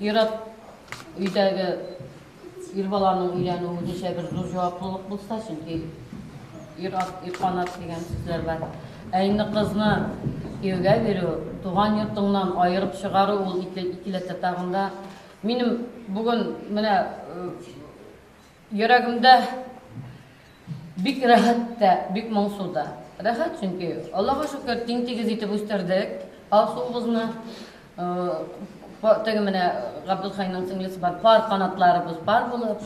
Ир-ат өйдәге ир баланың өйләнүе ничә бер зур җаваплылык булса, чөнки ир-ат, ир канат дигән сүзләр бар. Ә инде кызны кияүгә бирү, туган йортыңнан аерып чыгару ул икеләтә тагын да. Минем бүген менә Йөрәгемдә бик рәхәт тә, бик моңсу да. Рәхәт, чөнки, Аллага шөкер, тиң-тигез итеп үстердек Алсуыбызны. Теге менә Габделхәйнең сеңлесе бар, пар канатларыбыз пар булып,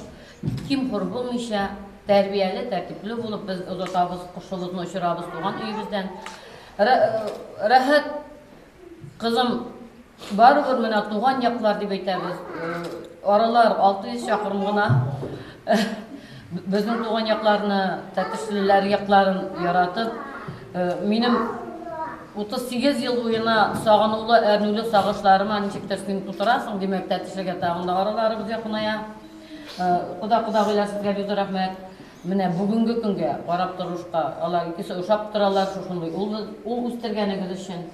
ким-хур булмыйча, тәрбияле, тәртипле булып без озатабыз, кошыбызны очырабыз туган өебездән. Рәхәт Кызым, барыбер менә туган яклар дип әйтәбез, аралар 600 чакрым гына. Безнең туган якларны, Тәтешлеләр якларын яратып, минем 38 ел буена сагынулы, әрнүле сагышларыма ничектер син тутырасың, димәк, Тәтешлегә тагын да араларыбыз якыная. Кода-кодагыйлар, сезгә бик зур рәхмәт. Менә бүгенге көнгә карап торышка, алар икесе ошап торалар, шушындый ул ул үстергәнегез өчен.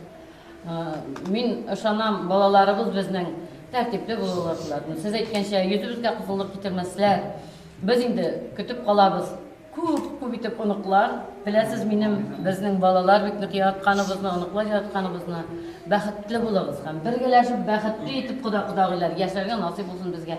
Мин ышанам, балаларыбыз безнең тәртипле булалар шулар. Сез әйткәнчә, йөзебезгә кызыллык китермәсләр. Без инде көтеп калабыз. Күп, күп итеп оныклар. Беләсез, минем безнең балалар бит ник яратканыбызны, оныклар яратканыбызны. Бәхетле булыгыз һәм бергәләшеп бәхетле итеп кода кодагыйлар яшәргә насыйп булсын безгә.